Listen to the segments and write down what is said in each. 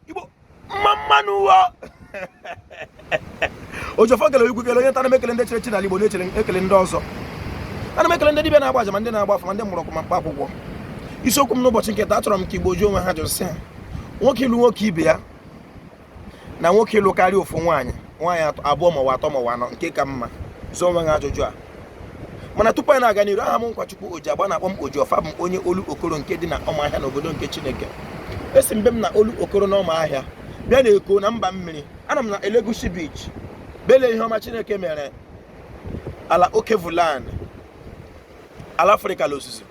igbo mma mma nụ ọwụ oji ọfọ kele onye ukwu kele onye nta ana m ekele ndị chiri echi n'ala igbo na-ekele ndị ọzọ ana m ekele ndị dibịa na-agba aja ma ndị na-agba afa ma ndị mgbọrọgwụ ma mkpa akwụkwọ isiokwu m n'ụbọchị nke taa achọrọ m ka igbo jụọ onwe ha ajụjụ sị ha nwoke ịlụ nwoke ibe ya na nwoke ịlụ karịa ofu nwaanyị nwaanyị atọ- abụọ ma ọwụ atọ ma ọwụ anọ nke ka mma jụọ onwe gị ajụjụ a mana tupu m na-aga n'iru aha m wụ nkwachukwu oji agba a na-akpọ m oji ọfọ abụ m onye olokoro nke dị na ọmahịa na obodo nke chineke esi m be m na olokoro na ọmahịa bịa na eko na mba mmiri ana m na elegushi beach bịa lee ihe ọma chineke mere ala alkebulan ala afrịka la ozuzu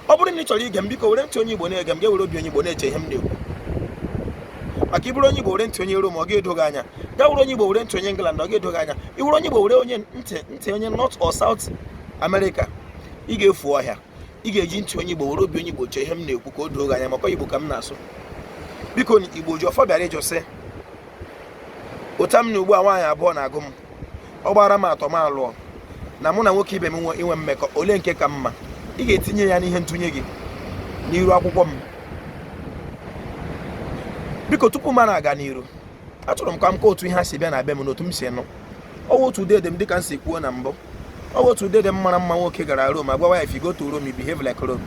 ọ bụrụ na ị chọrọ ige m biko were ntị onye Igbo na-ege m gị ewere obi onye Igbo na-eche ihe m na-ekwu maka ị bụrụ onye Igbo were ntị onye Rom ọ ga-edoghị anya gị wụrụ onye Igbo were ntị onye England ọ ga-edoghị anya ị wụrụ onye Igbo were onye ntị ntị onye North or South America ị ga-efu ọhịa ị ga-eji ntị onye Igbo were obi onye Igbo chee ihe m na-ekwu ka o doo gị anya maka Igbo ka m na-asụ biko Igbo oji ọfọ bịara ịjụ sị ụta m na ugbu a nwaanyị abụọ na-agụ m ọ gbara m atọ m alụọ na mụ na nwoke ibe m inwe mmekọ ole nke ka mma ị ga-etinye ya n'ihe ntụnye gị n'iru akwụkwọ m biko tupu m na-aga n'iru achọrọ m ka m kọọ otu ihe a si bịa na be m n'otu m si nụ ọwụ otu dede m dịka m si kwuo na mbụ ọwụ otu dede m mara mma nwoke gara Rom agwa ya if you go to Rome you behave like Rome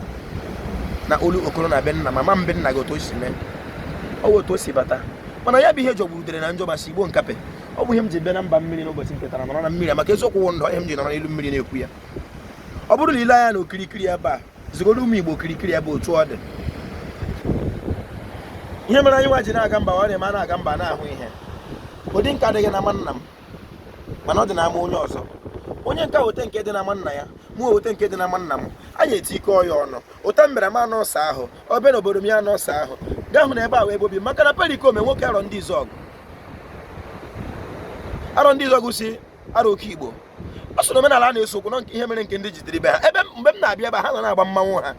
na olokoro na be nna mama m be nna gị otu o si mee ọwụ otu o si bata mana ya bụ ihe jọgburu udere na njọ ma sigbuo nkapị ọ bụ ihe m ji bịa na mba mmiri n'ụbọchị nke taa nọrọ na mmiri a maka eziokwu wụ ndụ ihe m ji nọrọ n'elu mmiri na-ekwu ya ọ bụrụ na i lee anya na okirikiri ebe a zigoro ụmụ igbo okirikiri ebe otu ọ dị ihe mere anyị nwa ji na-aga mba ọ na-eme a na-aga mba na-ahụ ihe ụdị nke a adịghị na ama nna m mana ọ dị na ama onye ọzọ onye nka weta nke dị na ama nna ya mụ weta nke dị na ama nna m anyị etikọọ ya ọnụ ụta mbere m anọ ọsa ahụ obe na obodo m ya anọ ọsa ahụ gaa hụ na ebe a were obi maka na perikome nwoke arọndịzuọgụ arọndịzuọgụ si arọ oke igbo ọ sị na omenala a na-ese okwu na ihe mere nke ndị ji dịrị be ha ebe mgbe m na-abịa ebe ha na na-agba mmanwụ ha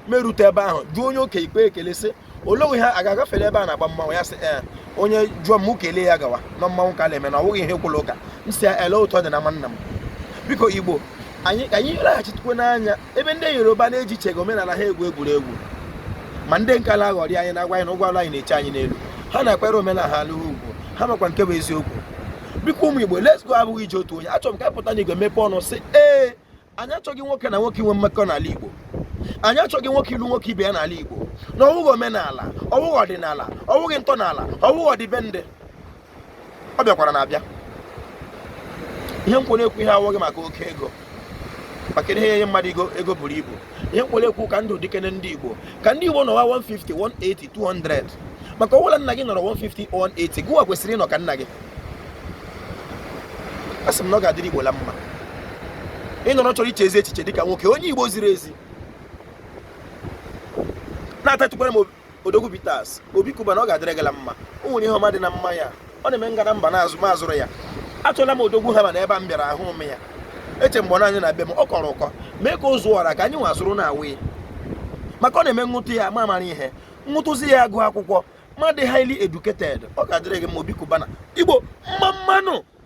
m erute ebe ahụ jụọ onye oke ikpe ekele sị olee otu a ga-agafere ebe a na-agba mmanwụ ya sị ee eh, onye jụọ m kelee ya gawa na mmanwụ ka na-eme na ọ bụghị ihe kwụrụ ụka m si ya ele ụtọ dị na nwanna m biko igbo anyị ka anyị laghachitekwa n'anya ebe ndị yoruba na-ejichaghị omenala ha egwu egwuregwu ma ndị nke na-aghọrị anyị na-agwa anyị na ụgwọ ọlụ anyị na-eche anyị n'elu ha na-akwanyere omenala ha ugwu ha makwa nke bụ eziokwu biko ụmụ igbo let's go abụghị ije otu onye achọrọ m ka a pụta n'igwe mepee ọnụ sị ee anyị achọghị nwoke na nwoke inwe mmekọ n'ala igbo anyị achọghị nwoke ịlụ nwoke ibe ya n'ala igbo na ọwụghị omenala ọwụghị ọdịnala ọwụghị ntọala ọwụghị ọdịbendị ọ bịakwara na-abịa ihe m kwere ekwu ihe a awụghị maka oke ego maka ihe enye mmadụ ego ego buru ibu ihe m kwere ekwu ka ndụ dịkene ndị igbo ka ndị igbo nọwa 150 180 200 maka ọ bụ la nna gị nọrọ 150 180 gịwa kwesịrị ịnọ ka nna gị asị m na ọ ga-adịrị igbo la mma ị nọrọ chọrọ iche ezi echiche dịka nwoke onye igbo ziri ezi na-atatukwara m odogwu bitters obi cubana ọ ga-adịrị gị la mma o nwere ihe ọma dị na mmanya ọ na-eme ngana mba na-azụ ma azụrụ ya achọla m odogwu ha ma na ebe a m bịara ahụ m ya eche mgbe ọ na-anya na be m ọ kọrọ ụkọ mee ka o zuo ọra ka anyị nwa zụrụ na-aṅụ maka ọ na-eme m ṅụtụ ya m amara ihe m ṅụtụzi ya agụ akwụkwọ m adị highly educated ọ ga-adịrị gị mma obi cubana igbo mma mma nụ